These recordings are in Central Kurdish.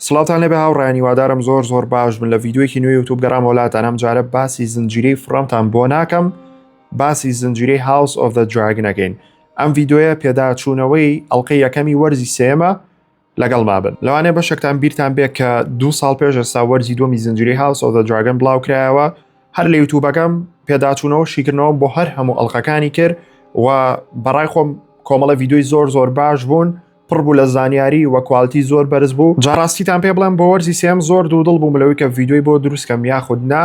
سڵاوتان لێبێ هاوڕێیان هیوادارم زۆر زۆر باش بن لە ڤیدیویەکی نوێ یوتوب گەڕام وڵاتان ئەم جارە باسی زنجیرەی فڕەمتان بۆ ناکەم باسی زنجیرەی هاوس ئۆف دە دراگنەکەین ئەم ڤیددیوە پێداچوونەوەی ئەڵلقەی یەکەمی وەرزی سێمە لەگەڵ مابن لەوانێ بەشێکتان بیرتان بێ کە دو ساڵ پێش ئێستا وەرزی دومی زنجیری هاوس ئۆف دە دراگن بڵاو کرایەوە هەر لە یوتوبەکەم پێداچوونەوە شیکردنەوە بۆ هەر هەموو ئەڵلقەکانی کرد و بەڕای خۆم کۆمەڵە ڤیددیوی زۆر زۆر باش بوون پڕ بوو لە زانیاری وە کوالتی زۆر بەرز بوو جا ڕاستیتان پێ بڵێم بۆ وەرزی سێم زۆر دوو دڵ بووم لەوەی کە ڤیددیوی بۆ دروستکەم یاخود نا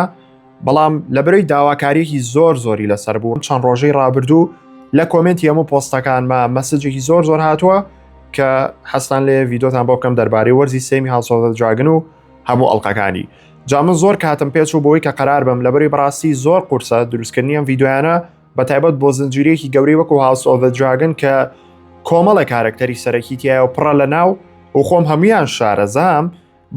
بەڵام لە برۆی داواکاریەکی زۆر زۆری لەسەر بووم چەند ڕۆژەی ڕابردوو لە کۆمنتی هەموو پۆستەکانمە مەسجێکی زۆر زۆر هاتووە کە حەستان لێ ڤیددیۆتان بۆ بکەم دەربارەی وەرزی سێمی هاوسۆزە جاگن و هەموو ئەڵلقەکانی جا من زۆر کاتم پێچ و بۆی کە قەرار بم لە بەری بڕاستی زۆر قورسە دروستکردنیان ڤیددیویانە بە تایبەت بۆ زنجیرەیەکی گەورەی وەکو هاوس ئۆڤە دراگن کە کۆمەڵە کارەکتەری سەرەکی تایە و پڕە لە ناو و خۆم هەمویان شارەزام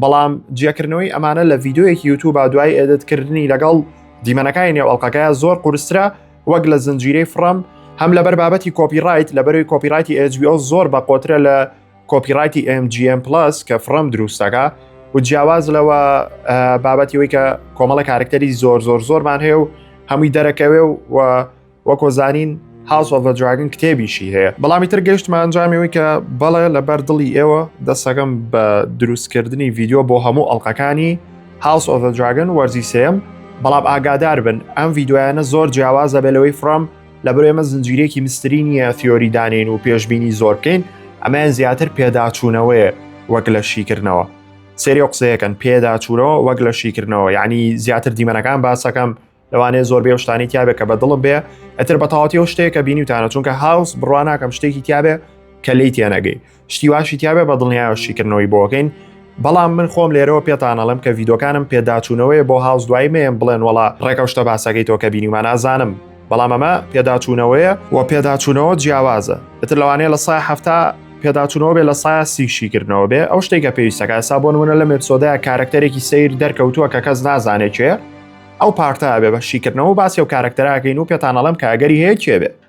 بەڵام جیاکردنەوەی ئەمانە لە ڤیددیوەیەکی یوتوب با دوای ئێدتکردنی لەگەڵ دیمەنەکانی نێو ئەڵلقەکەیە زۆر قورسرە وەک لە زنجیرەی فڕم هەم لەبەر بابەتی کۆپی ڕایت لە بەروی کۆپی ڕایتی ئەجبیۆ زۆر بە قۆترە لە کۆپیڕایتی MGM Plus کە فڕم دروستەکە و جیاواز لەوە بابەتی وی کە کۆمەڵە کارکتەری زۆر زۆر زۆرمان هەیە و هەمووی دەرەکەوێ و وەکۆزانین هاوس ئۆف دراگن کتێبیشی هەیە بەڵامی تر گەشتمان ئەنجامیەوەی کە بەڵێ لەبەر دڵی ئێوە دەستەکەم بە دروستکردنی ڤیددیو بۆ هەموو ئەڵلقەکانی هاوس ئۆف دراگن وەرزی سێم بەڵام ئاگادار بن ئەم ڤیددیویانە زۆر جیاواز دەبێت لەوەی فرۆم لەبەر ئێمە زنجیرێکی مستری نییە تیۆری دانین و پێشببینی زۆر بکەین ئەمەیان زیاتر پێداچوونەوەیە وەک لە شیکردنەوە سێری قسەیەکەن پێداچوورەوە وەک لە شیکردنەوە یعنی زیاتر دیمەنەکان باسەکەم لەوانەیە زۆر بێ شتانی تیاابێت کە بە دڵم بێ ئەتر بە تاوەتی و شتێکە بینیتانە چونکە هاوس بڕواناکەم شتێکی تیاابێ کە لی تێنەگەی شتی واشی تیاابێ بە دڵنیایەوە شیکردنەوەی بۆکەین بەڵام من خۆم لێرەوە پێتانەڵم کە ڤیدۆکانم پێداچوونەوەی بۆ هاوز دوای مێم بڵێن وڵا ڕێکەشتە باسەکەی تۆکە بینیمان نازانم بەڵام ئەمە پێداچوونەوەیە و پێداچوونەوە جیاوازە ئەتر لەوانەیە لە سای هەفتا پێداچوونەوە بێ لە سای سیشیکردنەوە بێ ئەو شتێکە پێویستەکە سا بۆ نمونە لە مێپسۆدای کارکتەرێکی سیر دەرکەوتووە کە کەس نازانێت چێ ئەو پارتە بێ بە شیکردنەوە باسی و کارکتەراکەین و پێتانەڵم کاگەری هەیە کێ بێ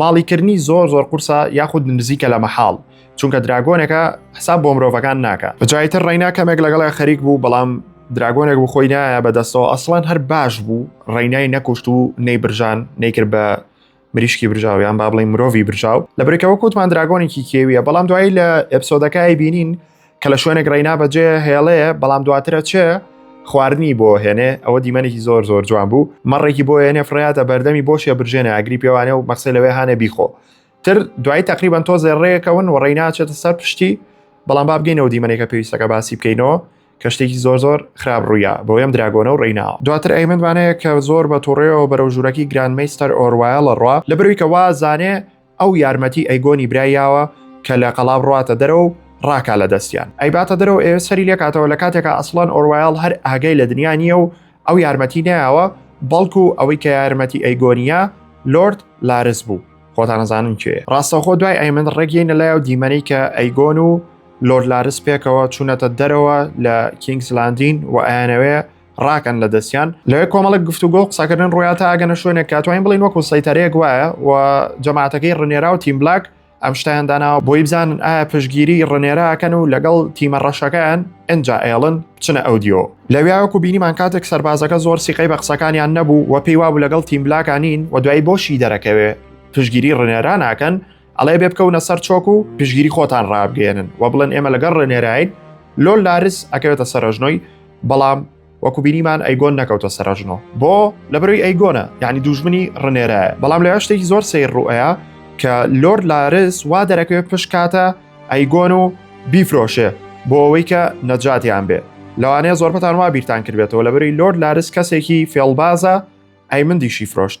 ماڵی کردنی زۆر زۆر قورسە یاخود نزیکە لە مەحاڵ چونکە دراگۆنێکە حساب بۆ مرۆڤەکان ناکە بەجایتر ڕینا کەمێک لەگەڵی خەریک بوو بەڵام دراگۆنێک بۆ خۆی نایە بەدەستەوە ئەسڵان هەر باش بوو ڕێنای نەکوشت و نەی برژان نەیکرد بە مریشکی برژاویان با بڵین مرۆڤی برژاو لە برێکەوە کۆتمان دراگۆنێکی کێویە بەڵام دوایی لە ئەپسۆدەکەی بینین کە لە شوێنێک ڕێنا بەجێ هێڵەیە بەڵام دواترە چێ خواردنی بۆ هێنێ ئەوە دیمەنێکی زۆر زۆر جوان بوو مەڕێکی بۆ هێنێ فڕاتە بەردەمی بۆشیە برژێنە ئاگری پێوانێ و مەخسی لەوێ هاانێ بیخۆ تر دوای تقریبان تۆ زێڕێکەون و ڕێناچێتە سەر پشتی بەڵام بابگەینەوە دیمەنێکە پێویستەکە باسی بکەینەوە کە شتێکی زۆر زۆر خراپ ڕوویە بۆ ئەم دراگۆنە و ڕینا دواتر ئەیمنوانەیە کە زۆر بە تووڕێەوە بەرەو ژوورەکی گران میستەر ئۆروایە لە ڕوا لە بروی کە وازانێ ئەو یارمەتی ئەیگۆنی برای یاوە کە لە قەڵا بڕواتە دەرەوە و ڕاکا لە دەستیان ئەیباتە دەرەوە ئێ سەری لێکاتەوە لە کاتێکا ئەسڵەن ئۆروایڵ هەر ئاگای لە دنیا نییە و ئەو یارمەتی نەیاوە بەڵکو ئەوەی کە یارمەتی ئەیگۆنیە لۆرد لارس بوو خۆتان نەزانن کێ ڕاستەوخۆ دوای ئەیمن ڕێگەینە لای و دیمەنەی کە ئەیگۆن و لۆرد لارس پێکەوە چوونەتە دەرەوە لە کینگس لاندین و ئەیانەوێ ڕاکەن لە دەستیان لەوێ کۆمەڵک گفتوگۆ و قسەکردن ڕویا تا ئەگەنە شوێنێک کاتوانین بڵین وەکو سەیتەرەیەک وایە و جەماعەتەکەی ڕنێرا و تیم بلاک ئەم شتیان داناوە بۆی بزانن ئایا پشگیری ڕنێراکەن و لەگەڵ تیمە ڕەشەکەیان ئەجا ئێڵن بچنە ئەو دیۆ لەویاوەکو بینیمان کاتێک سەربازەکە زۆر سیقەی بە قسەکانیان نەبوو و پێی وابوو لەگەڵ تیم بلاکانین و دوایی بۆشی دەرەکەوێ پشگیری ڕنێرا ناکەن ئەڵێ بێ بکەونە سەر چۆک و پشگیری خۆتان ڕابگەێنن و بڵێن ئێمە لەگەڵ ڕێنێراین لۆل لارس ئەکەوێتە سەرژنۆی بەڵام وەکو بینیمان ئەیگۆن نەکەوتە سەرژنۆ بۆ لە بەروی ئەیگۆنە یعنی دوژمنی ڕنێرایە بەڵام لە شتێکی زۆر سیر ڕوئەیە کە لۆرد لارس وا دەرەکەوێت پشکاتە ئەیگۆن و بیفرۆشێ بۆ ئەوەی کە نەجاتیان بێ لەوانەیە زۆربەتان وا بیرتان کردێتەوە لە بەری لۆرد لارس کەسێکی فێڵبازە ئەی مندیشی فرۆشت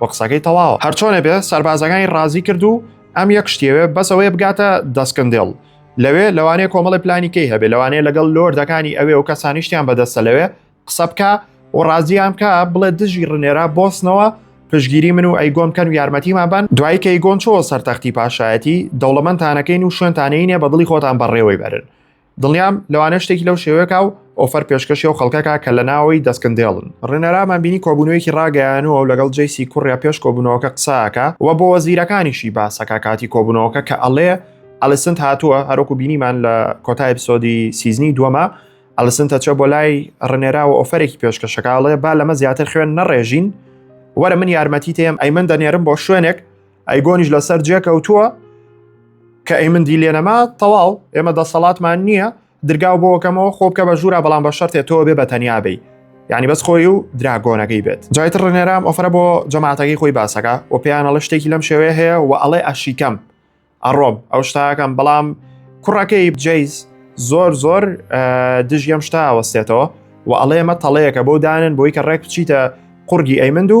و قسەکەی تەواوە هەرچۆنێ بێ سەربازەکانی ڕازی کرد و ئەم یەک شتێوێ بەسەوەیە بگاتە دەستکندێڵ لەوێ لەوانەیە کۆمەڵی پلانیکەی هەبێ لەوانەیە لەگەڵ لۆردەکانی ئەوێ و کەسانیشتیان بەدەستە لەوێ قسە بکە و ڕازیان بکە بڵێ دژی ڕنێرا بۆستنەوە پشگیری من و ئەیگۆن کەن و یارمەتیمان بن دوای کە ئەیگۆن چۆ سەرتەختی پاشایەتی دەوڵەمەندانەکەین و شوێنتانەینێ بە دڵی خۆتان بەڕێوەی بەرن دڵنیام لەوانە شتێکی لەو شێوەکە و ئۆفەر پێشکەشی و خەڵکەکە کە لە ناوەوەی دەستکندێڵن ڕێنەرامان بینی کۆبوونەوەیەکی ڕاگەیانەوە و لەگەڵ جەیسی کوڕیا پێش کۆبوونەوەکە قساکە و بۆ وەزیرەکانیشی باسەکە کاتی کۆبوونەوەکە کە ئەڵێ ئەلیسنت هاتووە هەرۆکو بینیمان لە کۆتای پسۆدی سیزنی دووەمە ئەلیسنتە چە بۆ لای ڕنێرا و ئۆفەرێکی پێشکەشەکەڵێ با لەمە زیاتر خوێن نەڕێژین وەرە من یارمەتی تێم ئەی من دەنێرم بۆ شوێنێک ئەیگۆنیش لەسەر جێ کەوتووە کە ئەی من دی لێنەما تەواو ئێمە دەسەڵاتمان نییە درگاو بۆکەمەوە خۆ بکە بە ژوورا بەڵام بە شەرتێ تۆ بێ بە تەنیا بی ینی بەس خۆی و دراگۆنەکەی بێت جایتر ڕنێرام ئۆفرە بۆ جەماعاتەکەی خۆی باسەکە و پێیانەڵە شتێکی لەم شێوەیە هەیە و ئەڵێ ئەشیکەم ئەڕۆم ئەو شتاکەم بەڵام کوڕەکەی جیز زۆر زۆر دژی ئەم شتا وەستێتەوە و ئەڵێ مە تەڵەیەکە بۆ دانن بۆی کە ڕێک بچیتە قورگی ئەیمند و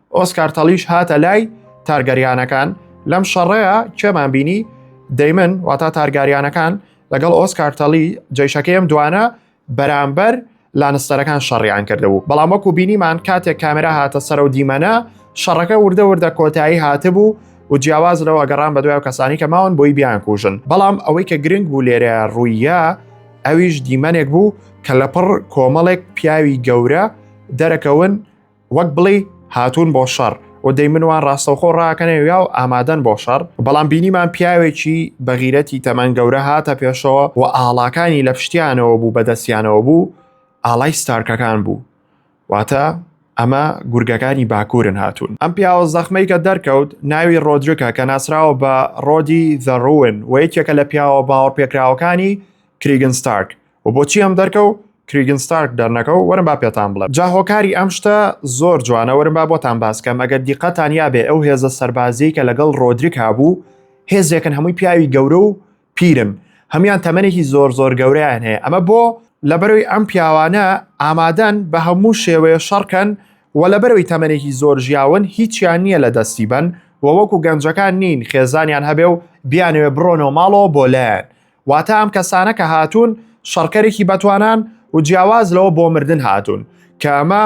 ئۆسکار تەڵیش هاتە لای تارگەریانەکان لەم شەڕەیە کێمان بینی دەیمن واتا تارگاریانەکان لەگەڵ ئۆسکار تەڵی جیشەکەیم دوانە بەرامبەر لانستەرەکان شەڕیان کردبوو بەڵام وەکو بینیمان کاتێک کامێرا هاتە سەر و دیمەنە شەڕەکە وردە وردە کۆتایی هاتبوو و جیاواز لەوە گەڕان بە دوای کەسانی کە ماون بۆی بیان کوژن بەڵام ئەوەی کە گرنگ بوو لێرە ڕوویە ئەویش دیمەنێک بوو کە لەپڕ کۆمەڵێک پیاوی گەورە دەرەکەون وەک بڵی هاتوون بۆ شەڕ و دەی منوان ڕاستەوخۆ ڕاکەنێ یا و ئامادەن بۆ شەڕ بەڵام بینیمان پیاوێکی بەغیرەتی تەمەن گەورە هاتە پێشەوە و ئاڵاکانی لە پشتیانەوە بوو بەدەستیانەوە بوو ئاڵای ستارکەکان بوو واتە ئەمە گورگەکانی باکوورن هاتوون ئەم پیاوە زەخمەی کە دەرکەوت ناوی ڕۆدرکە کە ناسراوە بە ڕۆدی زەڕون و یەکێکە لە پیاوە باوەڕ پێکراوەکانی کریگن ستارک و بۆچی ئەم دەرکە و کریگن ستارک دەرنەکە و وەرم با پێتان بڵێم جا هۆکاری ئەم شتە زۆر جوانە وەرم با بۆتان باس کەم ئەگەر دیقەتان یابێ ئەو هێزە سەربازیەی کە لەگەڵ ڕۆدریک هابوو هێزێکن هەمووی پیاوی گەورە و پیرن هەموان تەمەنێکی زۆر زۆر گەورەیان هەیە ئەمە بۆ لەبەرەوەی ئەم پیاوانە ئامادەن بە هەموو شێوەیە شەڕکەن و لەبەرەوەی تەمەنێکی زۆر ژیاون هیچیان نییە لە دەستی بن و وەکو گەنجەکان نین خێزانیان هەبێ و بیانەوێ بڕۆنەوە ماڵەوە بۆ لایەن واتە ئەم کەسانە کە هاتوون شەڕکەرێکی بەتوانان و جیاواز لەوە بۆ مردن هاتوون کە ئەمە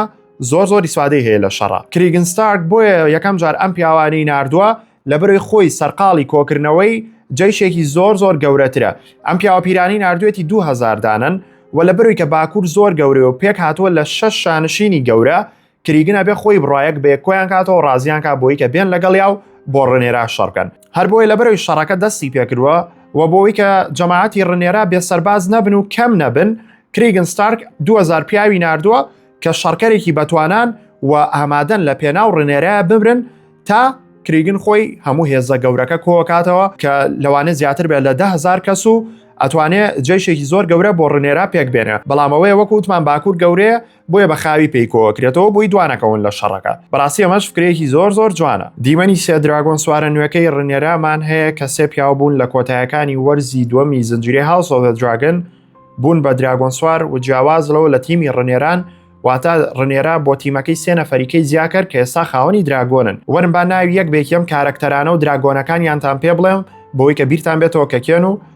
زۆر زۆر ئیسفادەی هەیە لە شەڕە کریگن ستارک بۆیە یەکەم جار ئەم پیاوانی ناردووە لە بەرەی خۆی سەرقاڵی کۆکردنەوەی جەیشێکی زۆر زۆر گەورەترە ئەم پیاوە پیرانی نردوێتی 2000 دانن و لە بەروی کە باکوور زۆر گەورەوە پێک هاتووە لە شەش شانشینی گەورە کریگن ئەبێ خۆی بڕایەک بێ کۆیان کاتەوە ڕازیان کا بۆی کە بێن لەگەڵ یا و بۆ ڕنێرا شەڕکەن هەر بۆی لە بەرەوی شەڕەکە دەستی پێکردووە و بۆی کە جەماعەتی ڕنێرا بێ سەرباز نەبن و کەم نەبن کریگن ستارک 2000 پیاوی نردووە کە شەڕکەرێکی بەتوانان و ئامادەن لە پێناو ڕنێرا بمرن تا کریگن خۆی هەموو هێزە گەورەکە کۆکاتەوە کە لەوانە زیاتر بێت لە دههزار کەس و ئەتوانێ جێشێکی زۆر گەورە بۆ ڕنێرا پێک بێنە بەڵامەوەی وەکووتمان باکوور گەورەیە بۆیە بە خاوی پێی کۆکرێتەوە بۆی دوانەکەون لە شەڕەکە بەڕاستی ئەمەش فکرێکی زۆر زۆر جوانە دیمەنی سێ دراگۆن سوارە نوێەکەی ڕنێرامان هەیە کە سێ پیاو بوون لە کۆتایەکانی وەرزی دووەمی زنجیرەی هاوسۆڤە دراگن بوون بە دراگۆن سوار و جیاواز لەوە لە تیمی ڕنێران واتە ڕنێرا بۆ تیمەکەی سێ نەفەریکەی زیاکرد کە ئێستا خاوەنی دراگۆنن وەرم با ناوی یەک بێکیەم کارەکتەرانە و دراگۆنەکانیانتان پێ بڵێم بۆی کە بیرتان بێتەوە کە کێن و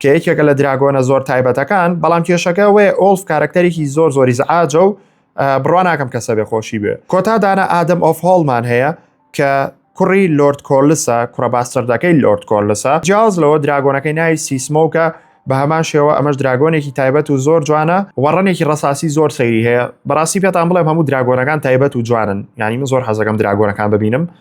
کە یەکێکە لە دراگۆنە زۆر تایبەتەکان بەڵام کێشەکە ئەوەیە ئۆڵف کارەکتەرێکی زۆر زۆری زعاجە و بڕوا ناکەم کەسە بێ خۆشی بێ کۆتا دانا ئادەم ئۆف هۆڵمان هەیە کە کوڕی لۆرد کۆلسە کوڕە باستەردەکەی لۆرد کۆلسە جیاز لەوە دراگۆنەکەی ناوی سیسمۆکە بە هەمان شێوە ئەمەش دراگۆنێکی تایبەت و زۆر جوانە وەڕنێکی ڕساسی زۆر سەیری هەیە بەڕاستی پێتان بڵێم هەموو دراگۆنەکان تایبەت و جوانن ینی من زۆر حەزەکەم دراگۆنەکان ببینم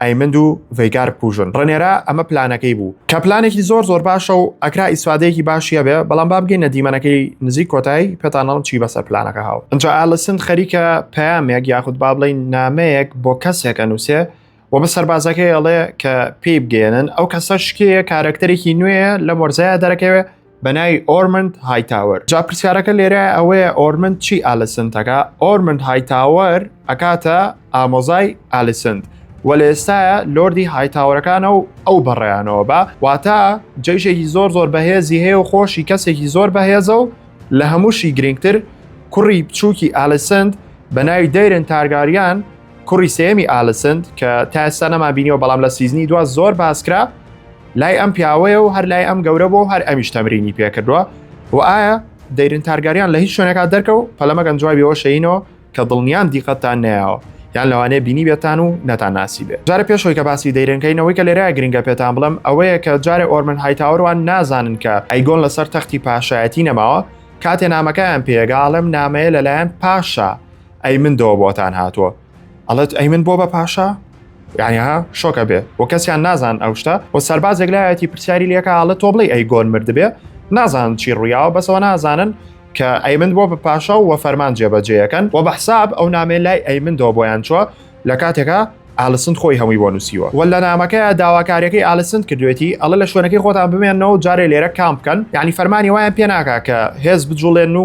ئەیمند و ڤەیگار پوژن ڕنێرا ئەمە پلانەکەی بوو کە پلانێکی زۆر زۆر باشە و ئەکرا ئیسفادەیەکی باشیە بێ بەڵام با بگەینە دیمەنەکەی نزیک کۆتایی پێتانەڵم چی بەسەر پلانەکە هاو ئەجا ئالسن خەریکە پامێک یاخود با بڵین نامەیەک بۆ کەسێکە نووسێ و بە سەربازەکەی ئەڵێ کە پێی بگەێنن ئەو کەسە شکەیە کارەکتەرێکی نوێە لە مۆرزایە دەرەکەوێ بە ناوی ئۆرمنت هایتاوەر جا پرسیارەکە لێرە ئەوەیە ئۆرمنت چی ئالسنتەکە ئۆرمنت هایتاوەر ئەکاتە ئامۆزای ئالسنت و لە ئێستاە لۆردی هایتاورەکانە و ئەو بەڕێیانەوە بە واتە جەیشێکی زۆر زۆر بەهێزی هەیە و خۆشی کەسێکی زۆر بەهێزە و لە هەمووشی گرنگتر کوڕی بچووکی ئالسند بە ناوی دەیرن تارگاریان کوڕی سێمی ئالسند کە تا ئێستا نەما بینیەوە بەڵام لە سیزنی دو زۆر باسکرا لای ئەم پیاوەیە و هەر لای ئەم گەورە بۆ هەر ئەمیش تەمرینی پێکردووە و ئایا دەیرن تارگاریان لە هیچ شوێنەکە دەرکە و پەلەمەگەن جوابیەوە شەینەوە کە دڵنیان دیقەتان نایەوە یان لەوانەیە بینی بێتان و نەتان ناسی بێت جارە پێشەوەی کە باسی دەیرنکەینەوەی کە لێرە گرنگە پێتان بڵم ئەوەیە کە جارێ ئۆرمن هایتاوەروان نازانن کە ئەیگۆن لەسەر تەختی پاشایەتی نەماوە کاتێ نامەکەیان پێگاڵم نامەیە لەلایەن پاشا ئەی من دەوە بۆتان هاتووە ئەڵێت ئەی من بۆ بە پاشا یانیها شۆکە بێ و کەسیان نازان ئەو شتە و سەربازێک لایەتی پرسیاری لەکە ئاڵە تۆ بڵێ ئەی گۆن مردبێ نازان چی ڕویاوە بەسەوە نازانن کە ئەیمن بۆ بە پاشا و فەرمان جێبەجێیەکەن و بە حساب ئەو نامێ لای ئەیمندەوە بۆیان چوە لە کاتێکە ئالسند خۆی هەمووی بۆ نووسیوە و لە نامەکەی داواکاریەکەی ئالسند کردوێتی ئەڵە لە شوێنەکەی خۆتان بمێنەوە جارێ لێرە کام بکەن یعنی فەرمانی وایان پێناکا کە هێز بجوڵێن و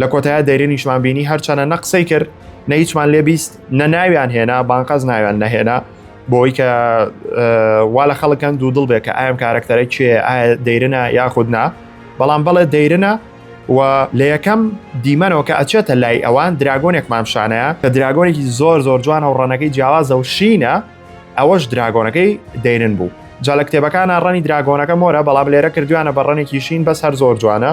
لە کۆتایە دەیرنیشمان بینی هەرچەنە نە قسەی کرد نە هیچمان لێ بیست نە ناویان هێنا بانقەز ناویان نەهێنا بۆی کە وا لە خەڵکەن دوو دڵ بێ کە ئایم کارەکتەرە کێ دەیرنە یاخود نا بەڵام بەڵێ دەیرنە و لە یەکەم دیمەنەوە کە ئەچێتە لای ئەوان دراگۆنێک مامشانەیە کە دراگۆنێکی زۆر زۆر جوانە و ڕەنەکەی جیاوازە و شینە ئەوەش دراگۆنەکەی دەیرن بوو جا لە کتێبەکانە ڕەنی دراگۆنەکە مۆرە بەڵام لێرە کردویانە بە ڕەنێکی شین بەس هەر زۆر جوانە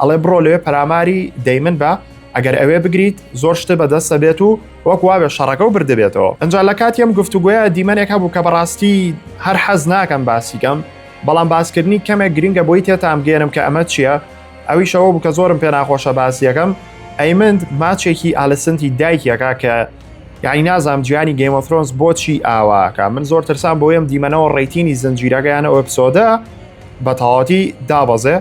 ئەڵێ بڕۆ لەوێ پەراماری دەیمن بە ئەگەر ئەوێ بگریت زۆر شتە بەدەستە بێت و وەک واوێ شەڕەکە و بردبێتەوە ئەجا لە کاتی ئەم گفتوگوۆیە دیمەنێک هەبوو کە بەڕاستی هەر حەز ناکەم باسیکەم بەڵام باسکردنی کەمێک گرنگە بۆی تێتان بگەێنم کە ئەمە چییە ئەویشەوە بوو کە زۆرم پێ ناخۆشە باسیەکەم ئەیمند ماچێکی ئالسنتی دایکیەکە کە یعنی نازام جیانی گەیمۆفرۆنس بۆچی ئاواکە من زۆر ترسان بۆیم دیمەنەوە ڕێتینی زنجیرەکەیان ئەو پسۆدە بە تەواتی دابەزێ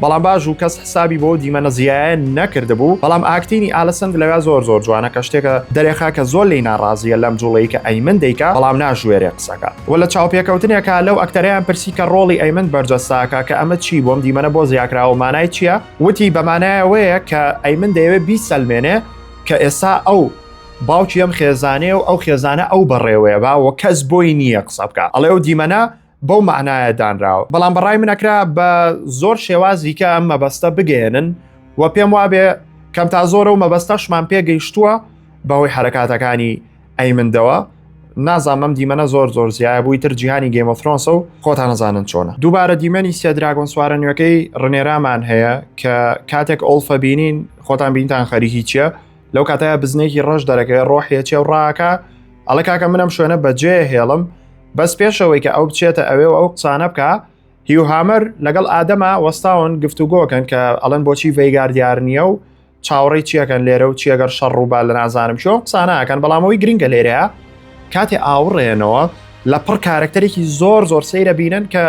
بەڵام باشوو کەس حسابی بۆو دیمەنە زیایە نەکردبوو بەڵام ئاکتینی ئالسەند لەوێ زۆر زۆر جوانە کە شتێکە دەرێخا کە زۆر لێی ناڕازیە لەم جوڵەی کە ئەیمن دەیکا بەڵام ناژوێرێ قسەکا وە لە چاوپێکەوتنێکا لەو ئەکتەرەیان پرسی کە ڕۆڵی ئەیمن بەرجەستاکا کە ئەمە چی بۆم دیمەنە بۆ زیاکراوە مانای چیە وتی بەمانایەوەیە کە ئەیمن دەیەوێ بیسەلمێنێ کە ئێسا ئەو باوکی ئەم خێزانەیە و ئەو خێزانە ئەو بەڕێوەیە با وە کەس بۆی نییە قسە بکا ئەڵێ ئەو دیمەنە بەو معنایە دانراوە بەڵام بەڕای من ئەکرا بە زۆر شێوازی کە ئەم مەبەستە بگەێنن و پێم وابێ کەم تا زۆرە و مەبەستەشمان پێگەیشتووە بەهۆی حرکاتەکانی ئەیمندەوە نازانم دیمەە زۆر زۆر زیایە بووی تر جیهانی گەیمەفرۆنسە و خۆتان نزانن چۆنە دووبارە دیمەنی سێدراگۆن سوارە نوێەکەی ڕنێرامان هەیە کە کاتێک ئۆڵفە بینین خۆتان بینتان خەریکی چیە لەو کاتەیە بزنێکی ڕەش دەرەکەوێ ڕۆحیەچێ و ڕاکە ئەڵە کاکە منم شوێنە بەجێ هێڵم بەس پێشەوەی کە ئەو بچێتە ئەوێ و ئەو قسانە بکە هیو هامەر لەگەڵ ئادەما وەستاون گفتوگۆکەن کە ئەڵەن بۆچی ڤیگار دیار نییە و چاوەڕی چیەکەن لێرە و چیەگەر شەڕ ڕووبا لە نازانم چۆن قسانەکەن بەڵامەوەی گرنگە لێرەیە کاتێ ئاوڕێنەوە لە پڕ کارکتەرێکی زۆر زۆر سەیرە بینن کە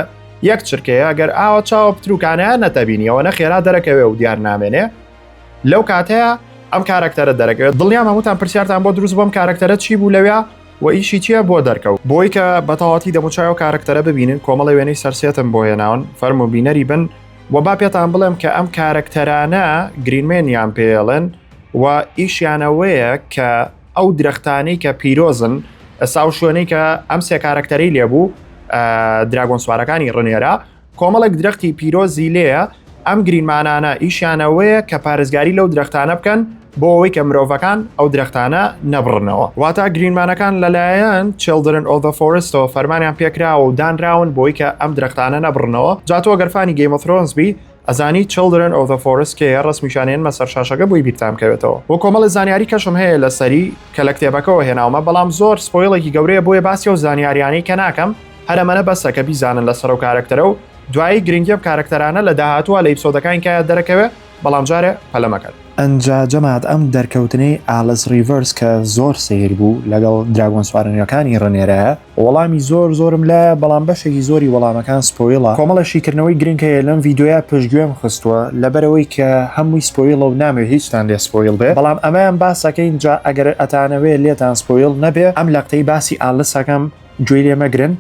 یەک چرکەیە گەر ئاوە چاوە پتروکانیان نەتەبینیەوە نە خێرا دەرەکەوێ و دیار نامێنێ لەو کاتەیە ئەم کارەکتەرە دەرەکەوێت دڵیان هەمووتان پرسیارتان بۆ دروست بۆم کارەکتەرە چی بوو لەوێ و ئیشی چییە بۆ دەرکەوت بۆی کە بەتەواتی دەموچای و کارەکتەرە ببینن کۆمەڵی وێنەی سەرسێتم بۆ هێناون فەرم و بینەری بن و با پێتان بڵێم کە ئەم کارەکتەرانە گرینمێنیان پێڵێن و ئیشیانەوەیە کە ئەو درەختانی کە پیرۆزن ئەسا و شوێنەی کە ئەم سێ کارەکتەری لێبوو دراگۆن سوارەکانی ڕنێرە کۆمەڵێک درەختی پیرۆزی لێیە، ئەم گریمانانە ئیشیان ئەوەیە کە پارێزگاری لەو درەختانە بکەن بۆ ئەوەی کە مرۆڤەکان ئەو درەختانە نەبڕنەوە. واتە گریمانەکان لەلایەن Children of the Forest ەوە فەرمانیان پێکراوە و دانراون بۆی کە ئەم درەختانە نەبڕنەوە. جا تۆ گەر فانی Game of Thrones بی ئەزانی Children of the Forest کێیە ڕەسمیشیان هێنمە سەر شاشەکە بۆی بیرتان بکەوێتەوە. وە کۆمەڵێ زانیاری کەشم هەیە لەسەری کە لە کتێبەکەوە هێناومە بەڵام زۆر سپۆیڵێکی گەورەیە بۆیە باسی ئەو زانیاریانەی کە ناکەم. هەر ئەمەە بەسە کە بیزانن لە سەرو کارەکتەرە و دوایی گرنگی ئەم کارەکتەرانە لە داهاتوە لە ئیپسۆدەکانی کایە دەرەکەوێ بەڵام جارێ پەلە مەکەن. ئنجا جەماعەت ئەم دەرکەوتنەی ئالس ڕیڤەرس کە زۆر سەیر بوو لەگەڵ دراگۆن سوارە نوێکانی ڕنێرایە وەڵامی زۆر زۆرم لایە بەڵام بەشێکی زۆری وەڵامەکان سپۆیڵە کۆمەڵە شیکردنەوەی گرنگ هەیە لەم ڤیدیۆیە پشتگوێم خستووە لەبەرئەوەی کە هەمووی سپۆیڵە و نامەوێ هیچتان لێ سپۆیڵ بێ بەڵام ئەمەیان باسەکەین جا ئەگەر ئەتانەوێ لێتان سپۆیڵ نەبێ ئەم لەقتەی باسی ئالس ئەکەم گوێی لێ مەگرن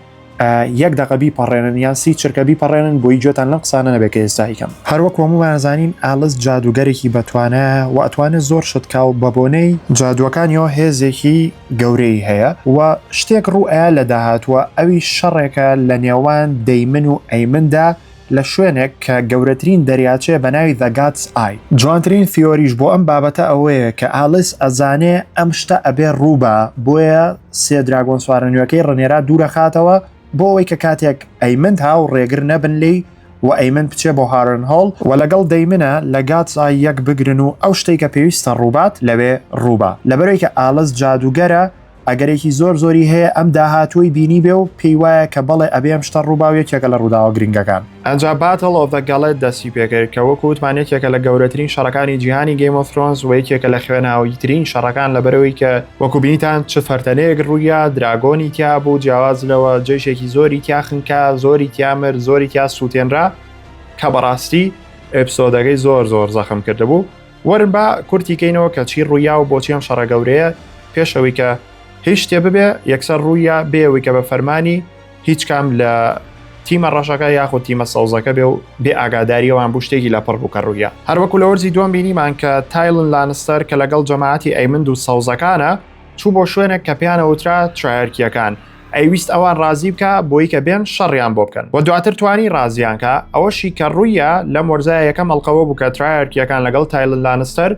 یەک دەقە بیپەڕێنن یان سی چرکە بیپەڕێنن بۆی گوێتان لەم قسانە نەبێت کە ئێستا هیکەم هەروەک هەمووان زانین ئالس جادوگەرێکی بەتوانە و ئەتوانێت زۆر شت کا و بە بۆنەی جادووەکانیەوە هێزێکی گەورەی هەیە و شتێک ڕوو ئەیا لە داهاتووە ئەوی شەڕێکە لە نێوان دەیمن و ئەیمندا لە شوێنێک کە گەورەترین دەریاچەیە بە ناوی The God's Eye. جوانترین ثیۆریش بۆ ئەم بابەتە ئەوەیە کە ئالیس ئەزانێ ئەم شتە ئەبێ ڕووبا بۆیە سێ دراگۆن سوارە نوێکەی ڕنێرا دوورەخاتەوە بۆ ئەوەی کە کاتێک ئەیمند ها و ڕێگر نەبن لێی و ئەیمند بچێ بۆ هارنهۆڵ و لەگەڵ دەیمنە لە God's Eye یەک بگرن و ئەو شتەی کە پێویستە ڕووبات لەوێ ڕووبا لەبەرەوەی کە ئالس جادووگەرە ئەگەرێکی زۆر زۆری هەیە ئەم داهاتووەی بینیبێ و پێی وایە کە بەڵێ ئەبێ ئەم شتە ڕووبا و یەکێکە لە ڕووداوە گرنگەکان. ئەنجا Battle of the Galled دەستی پێکرد کە وەکو وتمان یەکێکە لە گەورەترین شەڕەکانی جیهانی Game of Thrones وە یەکێکە لە خوێناویترین شەڕەکان لەبەرئەوەی کە وەکو بینیتان چ فەرتەنەیەک ڕوویا دراگۆنی تیا بوو جیاواز لەوە جەیشێکی زۆری تیا خنکا زۆری تیا مرد زۆری تیا سووتێنرا کە بەڕاستی ئێپسۆدەکەی زۆر زۆر زەخم کردبوو. وەرن با کورتی کەینەوە کە چی ڕوویا و بۆچی ئەم شەڕە گەورەیە پێش ئەوەی کە هیچ شتێ ببێ یەکسەر ڕوویا بێەوەی کە بە فەرمانی هیچ کام لە تیمە ڕەشەکە یاخود تیمە سەوزەکە بێ و بێ ئاگاداریەوەیان بوو شتێکی لە پڕ بوو کە ڕوویە هەروەکو لە وەرزی دوم بینیمان کە تایلن لانستەر کە لەگەڵ جەماعەتی ئەیمند و سەوزەکانە چوو بۆ شوێنێک کە پێیان ئەوترا ترایەرکییەکان، ئەیویست ئەوان ڕازی بکا بۆی کە بێن شەڕیان بۆ بکەن و دواتر توانی ڕازیان کا، ئەوەشی کە ڕوویە لەم وەرزایە یەکەم ئەڵقەوە بوو کە ترایەرکییەکان لەگەڵ تایلن لانستەر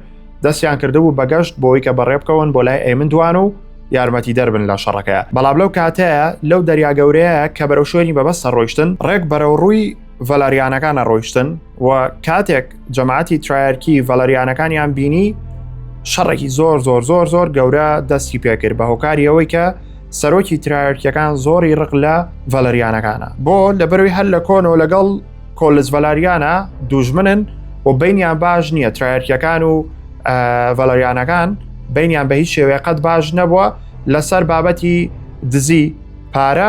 دەستیان کردبوو بە گەشت بۆی کە بەڕێ بکەون بۆ لای ئەیمن دوان و یارمەتیدەر بن لە شەڕەکەیا، بەڵام لەو کاتەیە لەو دەریا گەورەیە کە بەرەو شوێنی مەبەست ئەڕۆیشتن ڕێک بەرەو ڕووی ڤەلاریانەکانە ڕۆیشتن و کاتێک جەماعەتی ترایەرکی ڤەلاریانەکانیان بینی شەڕێکی زۆر زۆر زۆر زۆر گەورە دەستی پێکرد بە هۆکاری ئەوەی کە سەرۆکی ترایەرکیەکان زۆری ڕق لە ڤەلەریانەکانە بۆ لە بەروی هەر لە کۆنەوە لەگەڵ کۆلس ڤەلاریانە دوژمنن و بینیان باش نییە ترایەرکیەکان و ڤەلەریانەکان بینیان بە هیچ شێوەیە قەت باش نەبووە لەسەر بابەتی دزی پارە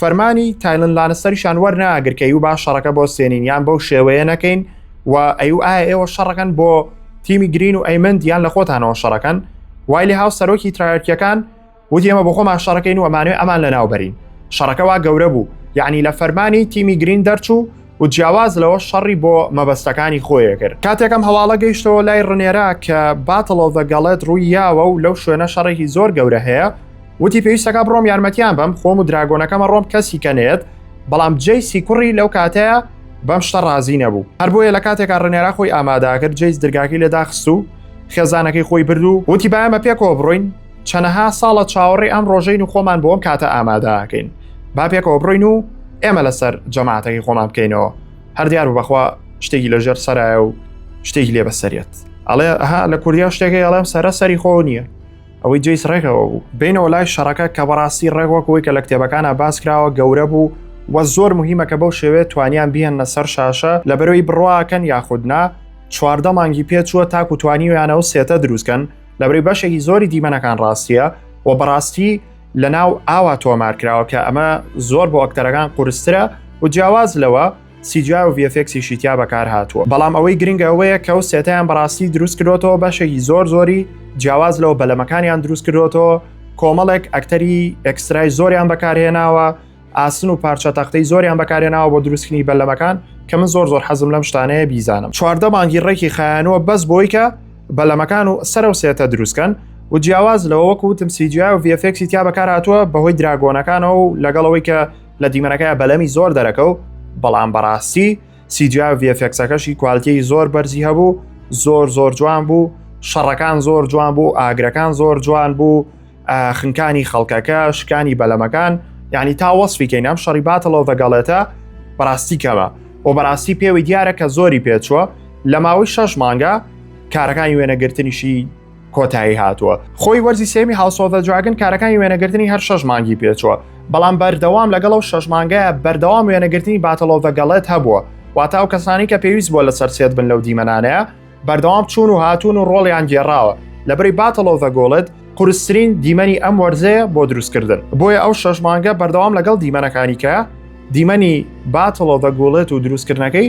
فەرمانی تایلن لانستەریشان وەرناگر کە یوبا شەڕەکە بۆ سێنین یان بەو شێوەیە نەکەین و ئەیو ئایا ئێوە شەڕەکەن بۆ تیمی گرین و ئەیمند یان لە خۆتانەوە شەڕەکەن وای لە هاو سەرۆکی ترایەرکیەکان وتی ئەمە بۆ خۆمان شەڕەکەین و ئەمانوێ ئەمان لە ناوبەرین شەڕەکەوا گەورە بوو یعنی لە فەرمانی تیمی گرین دەرچوو و جیاواز لەوە شەڕی بۆ مەبەستەکانی خۆیە کرد کاتێکم هەواڵە گەیشتەوە لای ڕنێرا کە باتڵۆڤە گەڵێت ڕووی یاوە و لەو شوێنە شەڕێکی زۆر گەورە هەیە وتی پێویستەکە بڕۆم یارمەتیان بەم خۆم و دراگۆنەکەمە ڕۆم کەسی کەنێت بەڵام جێی سیکوڕی لەو کاتەیە بەم شتە ڕازی نەبوو هەر بۆیە لە کاتێکا ڕنێرا خۆی ئاماداکرد جێیز درگاکی لێداخست و خێزانەکەی خۆی برد و وتی بایەمە پێکەوە بڕۆین چەنەها ساڵە چاوەڕێ ئەم ڕۆژەین و خۆمان بۆم کاتە ئامادەکەین با پێکەوە بڕین و ئێمە لەسەر جەماعاتەکەی خۆمان بکەینەوە هەر دیار و بەخوا شتێکی لە ژێر سەرایە و شتێکی لێ بەسەرێت ئەڵێ ها لە کوردیا شتێکی ئەڵێم سەرە سەری خۆ نییە ئەوەی جیس ڕێکەوە بوو بینەوە لای شەڕەکە کە بەڕاستی ڕێکوەکەوەی کە لە کتێبەکانە باسکراوە گەورە بوو وە زۆر مهمە کە بەو شێوێ توانیان بهێنە سەر شاشە لە بەرەوەی بڕواکەن یاخودنا چواردە مانگی پێچووە تاکو توانیویانە و سێتە دروستکەن لەبری بەشێکی زۆری دیمەنەکان ڕاستیە و بەڕاستی لە ناو ئاوا تۆمار کراوە کە ئەمە زۆر بۆ ئەکتەرەکان قورسترە و جیاواز لەوە سیجا و VFXی شیتیا بەکار هاتووە بەڵام ئەوەی گرنگە ئەوەیە کە و سێتیان بەڕاستی دروست کرۆتەوە بەشێکی زۆر زۆری جیاواز لەوە بەلەمەکانیان دروست کردوەوە کۆمەڵێک ئەکتەری ئەکسرای زۆریان بەکارهێناوە ئاسن و پارچە تەختەی زۆریان بەکارێناوە بۆ دروستکردنی بەلەمەکان کە من زۆر زۆر حەزم لەم شتانەیە بیزانم چواردە مانگی ڕێکی خایانەوە بەس بۆی کە بەلەمەکان و سەرە و سێتە دروستکەن و جیاواز لەوە وەکو وتم سیجیا و ڤفێکسی تیا بەکار هاتووە بەهۆی دراگۆنەکانەوە و لەگەڵەوەی کە لە دیمەنەکەی بەلەمی زۆر دەرەکە و بەڵام بەڕاستی سیجیا ڤفکسەکەشی کوالتیی زۆر بەرزی هەبوو زۆر زۆر جوان بوو شەڕەکان زۆر جوان بوو ئاگرەکان زۆر جوان بوو خنکانی خەڵکەکە شکانی بەلەمەکان یعنی تا وەصفی کەین ئەم شەڕی باتەڵەوە بەگەڵێتە بەڕاستی کەمە و بەڕاستی پێوەی دیارە کە زۆری پێچووە لە ماوەی شەش مانگە کارەکانی وێنەگرتنیشی کۆتایی هاتووە خۆی وەرزی سێمی هاوسۆڤە جوگن کارەکانی وێنەگرتنی هەر شەش مانگی پێچووە بەڵام بەردەوام لەگەڵ و شەش مانگایە بەردەوام وێنەگرتنی باتەڵۆڤە گەڵێت هەبووە واتا و کەسانی کە پێویست بۆ لەسەر سێت بن لەو دیمەنانەیە بەردەوام چوون و هاتوون و ڕۆڵیان گێڕاوە لەبری باتەڵۆڤە گۆڵت قورسترین دیمەنی ئەم وەرزەیە بۆ دروستکردن بۆیە ئەو شەش مانگە بەردەوام لەگەڵ دیمەنەکانی کە دیمەنی باتڵۆڤە گوڵێت و دروستکردنەکەی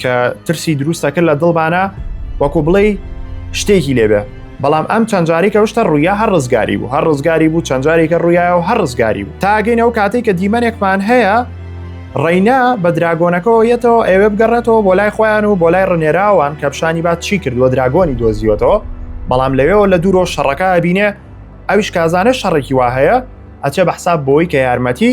کە ترسی دروستە کرد لە دڵبانە وەکو بڵێ شتێکی لێبێ بەڵام ئەم چەندجارێکە شتە ڕوویا هەر ڕزگاری بوو هەر ڕزگاری بوو چەندجارێکە ڕوویایە و هەر ڕزگاری بوو تاگەین ئەو کاتێک کە دیمەنێکمان هەیە ڕینا بە دراگۆنەکەەوە یەتەوە ئەوێ بگەڕێتەوە بۆ لای خۆیان و بۆ لای ڕنێراوان کە پیشانی بات چی کردووە دراگۆنی دۆزیوەتەوە بەڵام لەوێەوە لە دوورۆ شەڕەکە بینێ ئەویش کازانە شەڕێکی وا هەیە ئەچێ بە حساب بۆی کە یارمەتی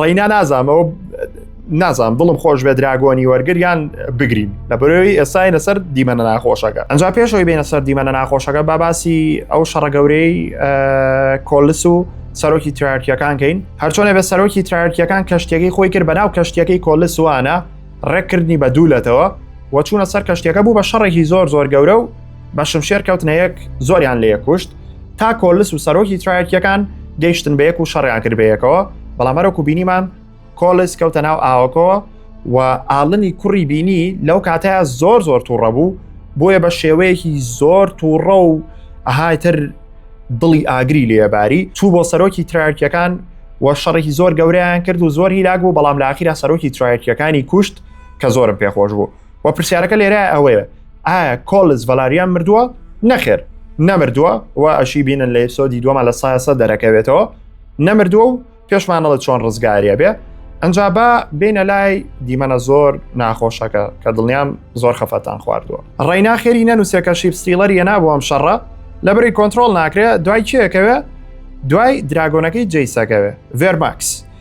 ڕینا نازام ئەو نازام دڵم خۆش بێ دراگۆنی وەرگریان بگرین لە بەرەوەی ئێساینە سەر دیمەنە ناخۆشەکە ئەنج پێشەوەی بینە سەر دیمەنە ناخۆشەکە باباسی ئەو شەڕە گەورەی کۆلس و سەرۆکی تراکیەکان کەین هەرچۆنە بە سەرۆکی تراکیەکان کەشتەکەی خۆی کرد بەناو کەشتەکەی کۆلس وانە ڕێککردنی بە دوولەتەوە وەچوونە سەر کەشتەکە بوو بە شەڕێکی زۆر زۆر گەورە و بە شمشێر کەوتنە یەک زۆریان لە یەکوشت تا کۆلس و سەرۆکی ترایەکیەکان گەیشتن بە یەک و شەڕیان کرد بەیەکەوە بەڵام هەرەکو بینیمان کۆلس کەوتە ناو ئاوەکەوە و ئاڵنی کوڕی بینی لەو کاتەیە زۆر زۆر تووڕە بوو بۆیە بە شێوەیەکی زۆر تووڕە و ئەهایتر دڵی ئاگری لێباری چوو بۆ سەرۆکی ترارکیەکان و شەڕێکی زۆر گەوریان کرد و زۆر هیلاک بوو بەڵام لە ئاخیرا سەرۆکی ترایەکیەکانی کوشت کە زۆرم پێخۆش بوو و پرسیارەکە لێرە ئەوەیە ئایا کۆلز ڤەلاریان مردووە نەخێر نەمردووە و ئەشی بینن لە ئفسۆدی دووەمە لە سایسە دەرەکەوێتەوە نەمردووە و پێشمانەڵە چۆن ڕزگاریە بێ ئەجا بە بینە لای دیمەنە زۆر ناخۆشەکە کە دڵنیام زۆر خەفەتان خواردووە ڕینا خێری نەنووسەکە شیب ستیلەر یە نابوو ئەم شەڕە لە بری کۆنتترۆل ناکرێت دوای کێەکەوێ دوای دراگۆنەکەی جیسەکەوێ ڤێرماکس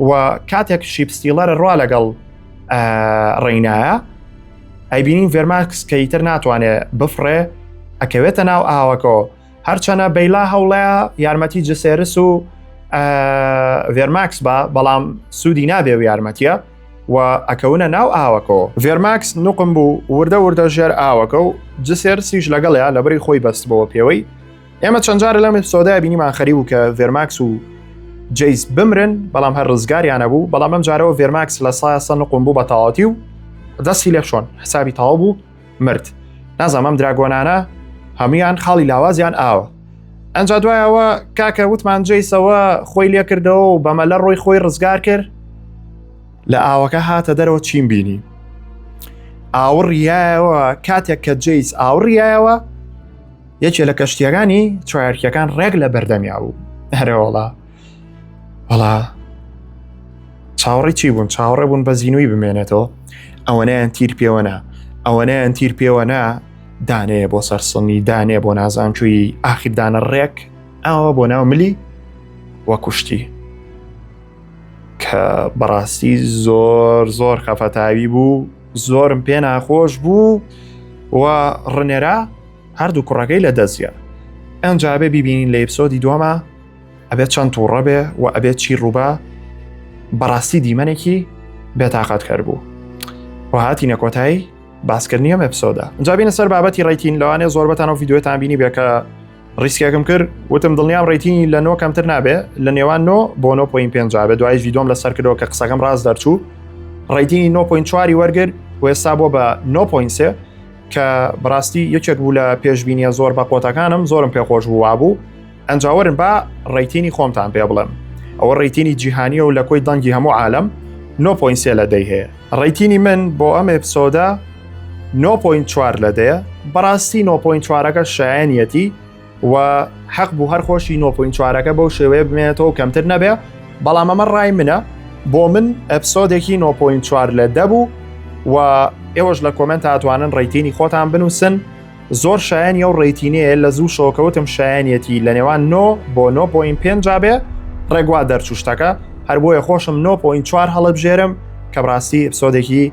و کاتێک شیپ ستیلەر ڕوا لەگەڵ ڕێینایە ئەیبینین ڤێرماکس کە ئیتر ناتوانێت بفڕێ ئەکەوێتە ناو ئاوەکۆ هەرچەنە بەیلا هەوڵەیە یارمەتی جسێرس و ڤێرماکس بە بەڵام سوودی نابێ و یارمەتیە و ئەکەونە ناو ئاوەکەەوە ڤێرماکس نوقم بوو وردە وردە ژێر ئاوەکە و جسێرسیش لەگەڵیا لەبری خۆی بەستبەوە پێوەی ئێمە چەند جارە لەم ئپسۆدای بینیمان خەریبوو کە ڤێرماکس و جیس بمرن بەڵام هەر ڕزگاریانە بوو بەڵام ئەم جارەوە ڤێرماکس لە سایسە نقم بوو بە تەواتی و دەستی لێ شۆن حسابی تاوا بوو مرد نازانم ئەم دراگۆنانە هەمویان خاڵی لاوازیان ئاوە ئەجا دوایەوە کاکە وتمان جیسەوە خۆی لێکردەوە و بەمە لە ڕۆی خۆی ڕزگار کرد لە ئاوەکە هاتە دەرەوە چین بینی ئاوڕیایەوە کاتێک کە جیس ئاوڕیایەوە یەکێ لە کەشتیەکانی چوارکیەکان ڕێک لە بەردەمیا بوو هەرەوەڵا وڵا چاوەڕی چی بوون چاوەڕێ بوون بە زیینوی بمێنێتەوە ئەوەنەیان تیر پێوەنا ئەوەنەیان تیر پێوەنا دانەیە بۆ سەرسڵنی دانێ بۆ نازانچووی ئاخیردانە ڕێک ئەوە بۆ ناو ملی وە کوشتی کە بەڕاستی زۆر زۆر خەفەتاوی بوو زۆرم پێ ناخۆش بوو و ڕنێرا هەردوو کوڕەکەی لە دەستیا ئەنجا بێ بیبینین لە ئپسۆدی دووەما ئەبێت چەند تووڕە بێ و ئەبێت چی ڕووبا بەڕاستی دیمەنێکی بێتاقەت کەر بوو و هاتی نەکۆتایی باسکردنی ئەم ئپسۆدا جابینە سەر بابەتی ڕیتین لەوانێ زۆربەتان و یددیوێتان بینی بێکە ڕیسکێکم کرد وتم دڵنیام ڕێتینی لە نۆ کەمتر نابێ لە نێوان نۆ بۆ 9.5 بە دوای ڤیدۆم لە سەرکردەوە کە قسەکەم ڕاست دەرچوو ڕێتینی 9.4 وەرگر و ێستا بۆ بە 9.3 کە بەڕاستی یەکێک بوو لە پێشببینیە زۆر بە قۆتەکانم زۆرم پێ خۆش بوو وابوو ئەنجاوەرن با ڕێتینی خۆمتان پێ بڵێم ئەوە ڕێتینی جیهانیە و لە کۆی دەنگی هەموو عالم 9.3 لە دەی هەیە ڕێتینی من بۆ ئەم ئپسۆدا 9.4 لە دەیە بەڕاستی 9.4ەکە شایەنەتی و حەق بوو هەر خۆشی 9.4 ەکە بەو شێوەیە بمێنێتەوە کەمتر نەبێ بەڵام ئەمە ڕای منە بۆ من ئەپسۆدێکی 9.4 لە دەبوو و ئێوەش لە کۆمنت هاتوانن ڕێتینی خۆتان بنووسن زۆر شایەن یە و ڕێتینەیە لە زوو شۆکەوتم شایەنەتی لە نێوان 9 بۆ 9.5 بێ ڕێگوا دەرچوشتەکە هەر بۆیە خۆشم 9.4 هەڵبژێرم کە بڕاستی ئەپسۆدێکی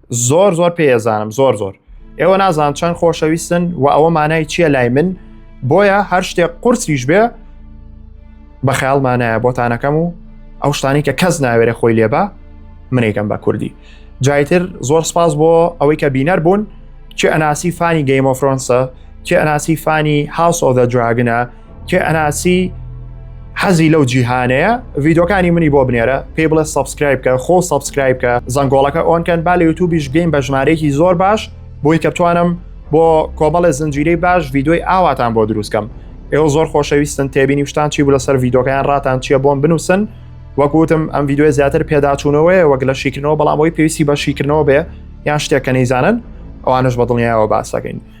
زۆر زۆر پێزانم زۆر زۆر ئێوە نازان چەند خۆشەویستن و ئەوە مانای چییە لای من بۆیە هەر شتێک قورسیش بێ بە خەیاڵمانایە بۆتانەکەم و ئەو شتانی کە کەس ناوێرە خۆی لێبە منێکم بە کوردی جایتر زۆر سپاس بۆ ئەوەی کە بینەر بوون چه ئەناسی فانی گەیمۆفرۆنسە چه ئەناسی فانی هاوسۆ دە دراگنە کێ ئەناسی حەزی لەو جیهانەیە ڤیدۆکانی منی بۆ بنێرە پێی بڵێ سبسکرایب کە خۆ سبسکرایب کە زەنگۆڵەکە ئۆنکەن با لە یوتوبیش بین بە ژمارەیەکی زۆر باش بۆی کە بتوانم بۆ کۆمەڵە زنجیرەی باش ڤیدۆی ئاواتان بۆ دروستکەم ئێوە زۆر خۆشەویستن تێبینی شتان چی بوو لەسەر ڤیدۆکەیان ڕاتان چیە بۆم بنووسن وەکوتم ئەم ڤیددیوە زیاتر پێداچوونەوەی وەک لە شیکردنەوە بەڵام ئەوی پێویستی بە شیکردنەوە بێ یان شتێکە نەیزانن ئەوانش بە دڵنیایەوە باسەکەین